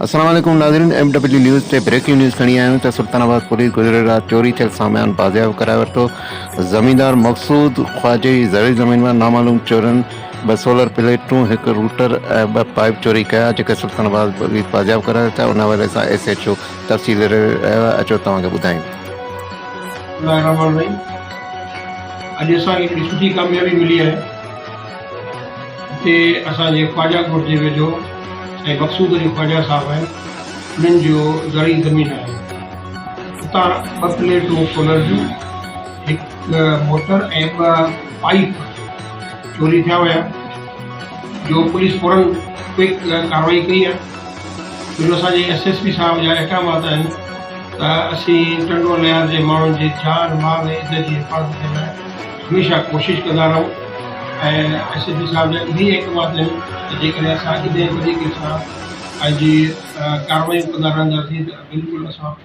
السلام عليڪم ناظرين ايم ڊبليو نيوز تي بريڪنگ نيوز کڻي آيا آهيون ته سلطان آباد پوليس گذريل رات چوري ٿيل سامان بازياب ڪرائي ورتو زميندار مقصود خواجه جي زرعي زمين مان نامعلوم چورن ٻه سولر پليٽون هڪ روٽر ۽ ٻه پائيپ چوري ڪيا جيڪي سلطان آباد پوليس بازياب ڪرائي ورتا ان حوالي سان ايس ايڇ او تفصيل رهيو آهي اچو توهان کي ٻڌايون اڄ اسان کي هڪڙي سٺي ڪاميابي ملي آهي جتي اسان جي خواجه ڳوٺ جي ويجهو سائين مقصود علي خواجه صاحب آهن انهن جو زرعي زمين آهي اتان ٻه پليٽون سولر جون هڪ موٽر ۽ ٻه پائيپ چوري ٿيا ويا جو پوليس فورن ڪوئڪ ڪارروائي ڪئي آهي اهي اسان جي ايس ايس پي صاحب جا احڪامات آهن ته اسين ٽنڊو ليار جي ماڻهن جي جان مال ۽ عزت جي حفاظت جي لاء هميشه ڪوشش ڪندا رهون ۽ ايس ايس پي صاحب جا اهي ئي احڪامات آهن ته جيڪڏهن اسان انهيء طريقي سان پنهنجي ڪارروائيون ڪندا رهنداسين ته بلڪل اسان